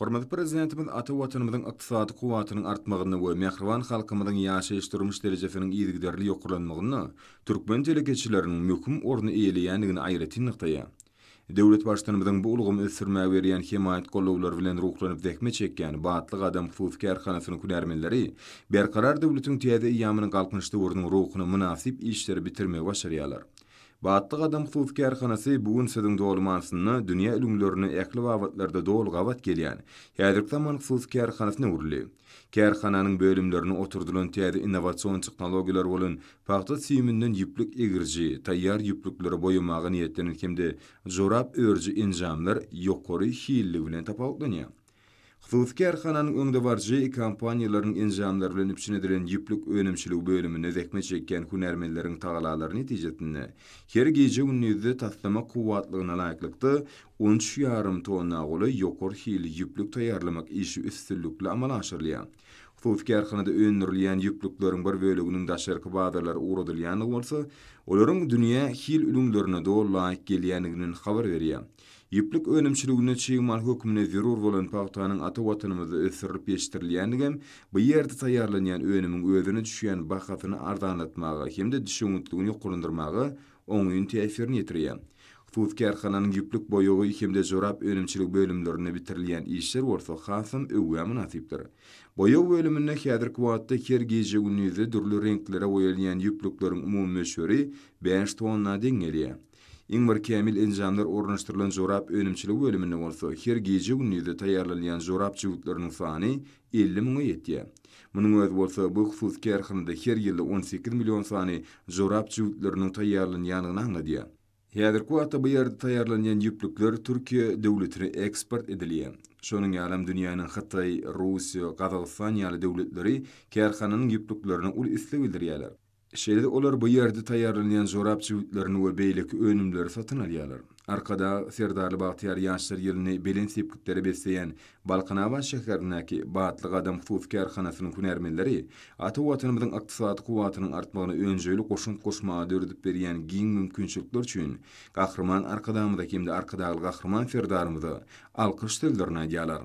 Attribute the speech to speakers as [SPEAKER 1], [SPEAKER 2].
[SPEAKER 1] Hormatly Prezidentimiz ata Watanymyzyň ykdysady kuwwatynyň artmagynda we mähriban halkymyzyň ýaşaýyş-durmuş derejesiniň yzygiderli ýokarlanmagynda türkmen telekeçileriniň möhüm orny eýeleýändigini aýratyn nygtaýar. Döwlet Baştutanymyzyň bu ulgamy ösdürmäge berýän hemaýat-gollawlary bilen ruhlanyp zähmet çekýän Batly gadam hususy kärhanasynyň hünärmenleri Berkarar döwletiň täze eýýamynyň Galkynyş döwrüniň ruhuna mynasyp işleri bitirmegi başarýarlar. Batly gadam hususy kärhanasy bu gün siziň dolumansynda dünýä ülňülerine ähli babatlarda doly gabat gelýän, häzirki zaman hususy kärhanasyna öwrüldi. Kärhananyň bölümlerine oturdylan täze innowasion tehnologiýalar bolan pagta süýüminden ýüplük egiriji, taýýar ýüplükleri boýamaga niýetlenen hem-de jorap örüji enjamlar ýokary hilli bilen tapawutlanýar. Hususy kärhananyň öňdebaryjy kompaniýalaryň enjamlary bilen üpjün edilen ýüplük önümçiligi bölüminde zähmet çekýän hünärmenleriň tagalary netijesinde, her gije-gündizde taslama kuwwatlygyna laýyklykda, on üç ýarym tonna golaý ýokary hilli ýüplük taýýarlamak işi üstünlikli amala aşyrylýar. Hususy kärhanada öndürilýän ýüplükleriň bir böleginiň daşarky bazarlara ugradylýandygy bolsa, olaryň dünýä hil ülňülerine doly laýyk gelýändiginden habar berýär. Ýüplük önümçiliginde çig mal hökmünde zerur bolan pagtanyň ata Watanymyzda ösdürilip ýetişdirilýändigem bu ýerde taýýarlanýan önümiň özüne düşýän bahasyny arzanlatmaga hem-de düşewüntligini ýokarlandyrmaga oňyn täsirini ýetirýär. Hususy kärhananyň ýüplük boýagy hem-de jorap önümçiligi bölümlerinde bitirilýän işler bolsa hasam öwgä mynasypdyr. Boýag bölüminde häzirki wagtda her gije-gündize dürli reňklere boýalýan ýüplükleriň umumy möçberi bäş tonna deň gelýär. Iň bir kämil enjamlar ornaşdyrylan jorap önümçilik bölüminde bolsa her gije-gündizde taýýarlanylýan jorap jübütleriniň sany elli müňe ýetýär. Munuň özi bolsa bu hususy kärhanada her ýylda on sekiz million sany jorap jübütleriniň taýýarlanýandygyny aňladýar. Häzirki wagtda bu ýerde taýýarlanýan ýüplükler Türkiýe döwletine eksport edilýär. Şonuň ýalam dünýäniň Hytaý, Russiýa, Gazagystan ýaly döwletleri kärhananyň ýüplüklerine uly isleg bildirýärler. Şeýle-de olar bu ýerde taýýarlanýan jorap jübütlerini we beýleki önümleri satyn alýarlar. Arkadag Serdarly bagtyýar ýaşlar ýylyny belent sepgitlere besleýän Balkanabat şäherindäki Batly gadam hususy kärhanasynyň hünärmenleri ata Watanymyzyň ykdysady kuwwatynyň artmagyna önjeýli goşant goşmaga döredip berýän giň mümkinçilikler üçin Gahryman Arkadagymyza hem-de Arkadagly Gahryman Serdarymyza alkyş sözlerini aýdýarlar.